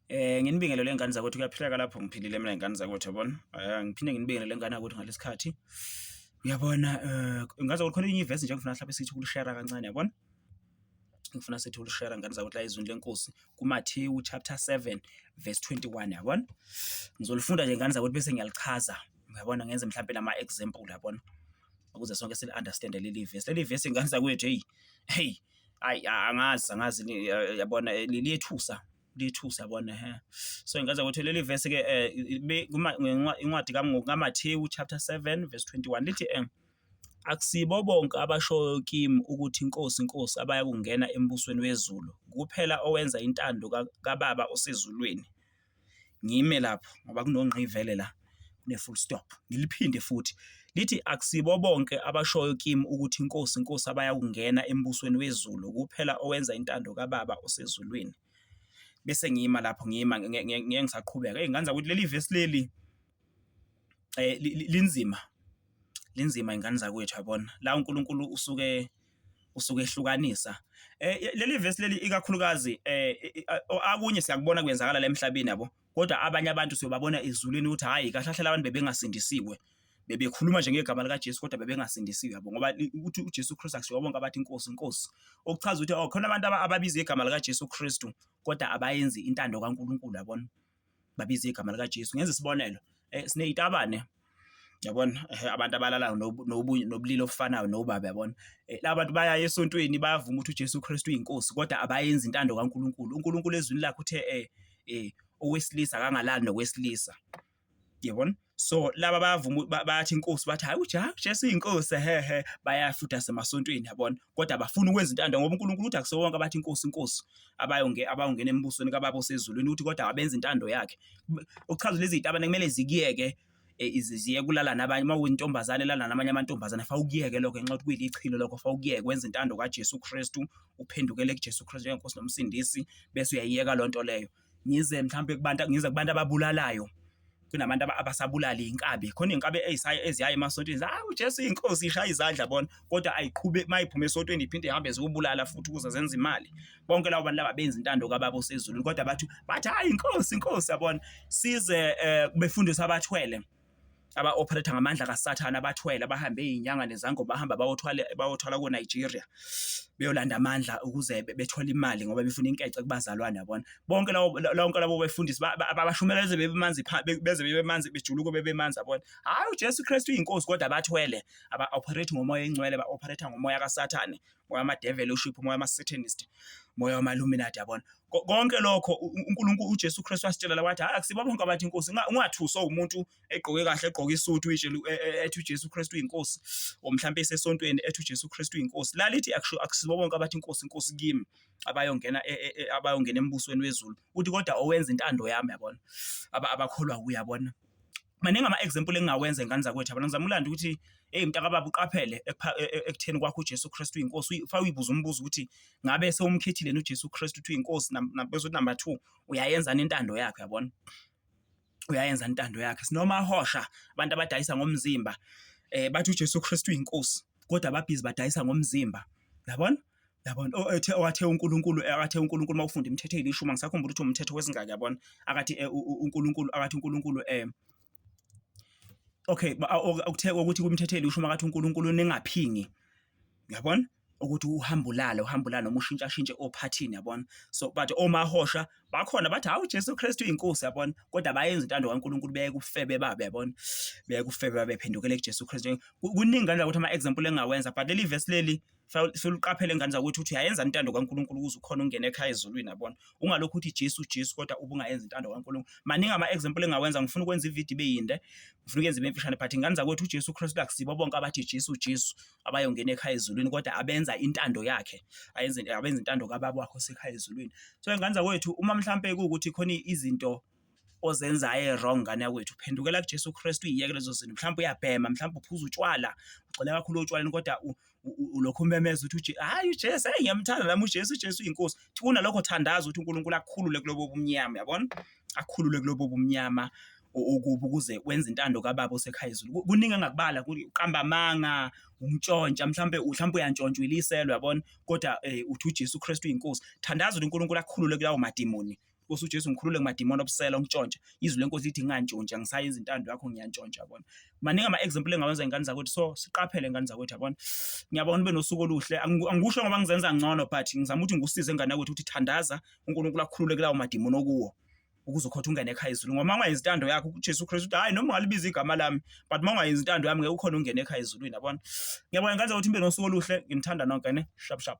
Eh nginibingelele ingane zakwethu kuyaphileka lapho ngiphilile mina ingane zakwethu yabona. Eh ngiphinde nginibingelele ingane yakwethu ngalesikhathi. Uyabona eh ngaze kukhona enye ivesi nje ngifuna mhlawumbe sithi kulishare kancane yabona. Ngifuna sithi ulishare ngane zakwethu la izwini lenkosi kuMathewu chapter 7 verse 21 yabona. Ngizolifunda nje ngane zakwethu bese ngiyalichaza. Uyabona ngenze mhlawumbe lama example yabona. Ukuze sonke sili understand leli verse. Leli verse ingane zakwethu hey. Hey ayi angazi angazi yabona liyethusa lithusa bona he so ingaza ukuthi leli verse ke eh, incwadi kaMathewu chapter 7 verse 21 lithi eh akusibo bonke abashoyo kimi ukuthi inkosi inkosi abaya kungena embusweni wezulu kuphela owenza intando kababa osezulwini ngime lapho ngoba kunongqivele la ne-full stop. Ngiliphinde futhi lithi akusibo bonke abashoyo kimi ukuthi inkosi inkosi abayakungena embusweni wezulu kuphela owenza intando kababa osezulwini. Bese ngiyima lapho ngiyima ngeke ngisaqhubeka. Hey nganza ukuthi leli verse leli eh linzima. Linzima ingane zakwethu yabona. La uNkulunkulu usuke usuke ehlukanisa eh leli verse leli ikakhulukazi eh akunye siyakubona kwenzakala la emhlabeni yabo kodwa abanye abantu siyobabona ezulwini ukuthi hhayi kahle kahle labantu bebengasindisiwe bebekhuluma nje ngegama likaJesu kodwa bebengasindisiwe yabo ngoba ukuthi uJesu Kristu akushiwo bonke abathi inkosi inkosi okuchaza ukuthi oh khona abantu ababiza igama likaJesu Kristu kodwa abayenzi intando kaNkulunkulu yabona babiza igama likaJesu ngenza isibonelo eh sineyitabane Yabona? Ehhe, abantu abalalayo nobulili obufanayo nobaba, yabona? Laba bantu baya esontweni, bayavuma ukuthi uJesu Kristu uyiNkosi, kodwa abayenzi intando kaNkulunkulu. UNkulunkulu eZwini lakhe uthe owesilisa akangalali nowesilisa. Yabona? So, laba bayavuma, bathi iNkosi, bathi hhayi uJesu uyiNkosi, ehhe, bayaya futhi nasemasontweni, yabona? Kodwa abafuni ukwenza intando ngoba uNkulunkulu uthi akusiwonke abathi iNkosi, iNkosi. abayonge abawungena embusweni kababa osezulwini ukuthi kodwa abenza intando yakhe okuchaza lezi zitabane kumele zikiyeke e, ziye kulala nabanye uma uyintombazane lala namanye amantombazane fa ukuyeke lokho ngenxa yokuthi kuyilichilo lokho fa ukuyeke wenza intando kaJesu Kristu uphendukele kuJesu Kristu njengenkosi nomsindisi bese uyayiyeka loo nto leyo ngize mhlawumbe kubantu ngize kubantu ababulalayo kunabantu abasabulala inkabi khona inkabi ezisaye eziyaye emasontweni hayi uJesu inkosi ishaya izandla bona kodwa ayiqhube mayiphuma esontweni iphinde ihambe zikubulala futhi ukuze zenze imali bonke labo bantu laba benza intando kababa osezulwini kodwa bathi bathi hayi inkosi inkosi yabona size eh, befundisa abathwele aba-operator ngamandla kasathane abathwele abahambe iyinyanga nezango bahamba bayothwala bayothwala ko-nigeria beyolanda amandla ukuze bethole imali ngoba befuna inkece kubazalwane yabona bonke lawo lonke labo befundisi abashumeleze bebemanzi beze bebemanzi bejuluke bebemanzi yabona hayi uJesu Kristu uyinkosi kodwa bathwele aba operate ngomoya encwele ba operate ngomoya kaSathane moya ama devil uship moya ama satanist moya wama illuminati yabona konke lokho uNkulunkulu uJesu Kristu wasitshela la wathi akusibo bonke abathi inkosi ungathuswa umuntu egqoke kahle egqoke isuit uyitshela e, e, ethi uJesu Kristu uyinkosi omhlambe esesontweni ethi uJesu Kristu uyinkosi lalithi akusibo bonke abathi inkosi inkosi kimi abayongena e, e, e, abayongena embusweni wezulu uthi kodwa owenza intando yami yabona abakholwa kuye yabona maningi ama-example engingawenza ingane zakwethu yabona ngizama ulanda ukuthi eyi mntakababa uqaphele e, e, e, ekutheni kwakho uJesu Kristu uyinkosi fa uyibuza umbuzo ukuthi ngabe sewumkhethile uJesu Kristu ukuthi uyinkosi bezothi number 2 uyayenzana intando yakhe yabona uyayenza intando yakhe sinoma ahosha abantu abadayisa ngomzimba eh bathi uJesu Kristu inkosi kodwa ababhizi badayisa ngomzimba yabona yabona oh, ethe wathe uNkulunkulu eh, athe uNkulunkulu mawufunda imithetho elisho uma ngisakhumbula ukuthi umthetho wesingaka yabona akathi eh, uNkulunkulu akathi uNkulunkulu eh okay ukuthe ukuthi kumthetho elisho uma akathi uNkulunkulu ningaphingi yabona ukuthi uhamba ulale uhamba ulale noma ushintshashintshe ophathini yabona so but omahosha bakhona bathi hawu Jesu Kristu inkosi yabona kodwa bayenza intando kaNkuluNkulu beyeke ubufebe babe yabona beyeke ubufebe babe phendukele kuJesu Kristu kuningi ngane ukuthi ama example engawenza but leli verse leli suluqaphele ngane zakuthi uthi uyayenza intando kaNkuluNkulu ukuze ukhona ungena ekhaya ezulwini yabona ungalokhu uthi Jesu Jesu kodwa ubungayenza intando kaNkuluNkulu maningi ama example engawenza ngifuna ukwenza ivideo ibeyinde ngifuna ukwenza ibemfishane but ngane zakwethu uJesu Kristu akusibo bonke abathi Jesu Jesu abayongena ekhaya ezulwini kodwa abenza intando yakhe ayenze abenza intando kababa wakho sekhaya ezulwini so ingane zakwethu uma mhlampe kuwukuthi khona izinto ozenzayo e-wrong ngane yakwethu phendukela kujesu kristu uyiyeke lezo zinto mhlawumbe uyabhema mhlawumbe uphuza utshwala ugxile kakhulu otshwaleni kodwa ulokhu umemeza ukuthi hhayi ujesu eyi ngiyamthanda nami ujesu ujesu uyinkosi kunalokho thandaza ukuthi unkulunkulu akhulule kulobo bumnyama yabona akhulule kulobo bumnyama okubi ukuze wenze intando kababa osekhaya izulu kuningi angakubala kuqamba amanga umtshontsha mhlambe mhlambe uyantshontsha uyiliselo yabona kodwa eh, uthi uJesu Kristu inkosi thandaza uNkulunkulu akhulule kulawo madimoni Nkosi uJesu ngikhulule kumadimoni obusela ongitshontsha izwi lenkosi lithi ngingantshontsha ngisaye izintando yakho ngiyantshontsha yabona maningi ama example engawenza ingane zakwethu so siqaphele ingane zakwethu yabona ngiyabona ube nosuku oluhle angikusho ngoba ngizenza ngcono but ngizama ukuthi ngikusize ingane yakwethu ukuthi thandaza uNkulunkulu akhulule kulawo madimoni okuwo ukuze ukhothe ungene ekhaya ezulwini ngoba uma ungayenzi intando yakho uJesu Kristu uthi hayi noma ungalibiza igama lami but uma ungayenzi intando yami ngeke ukhona ungene ekhaya ezulwini yabona ngiyabonga ngandza ukuthi nibe nosuku oluhle nginithanda nonke ne shap shap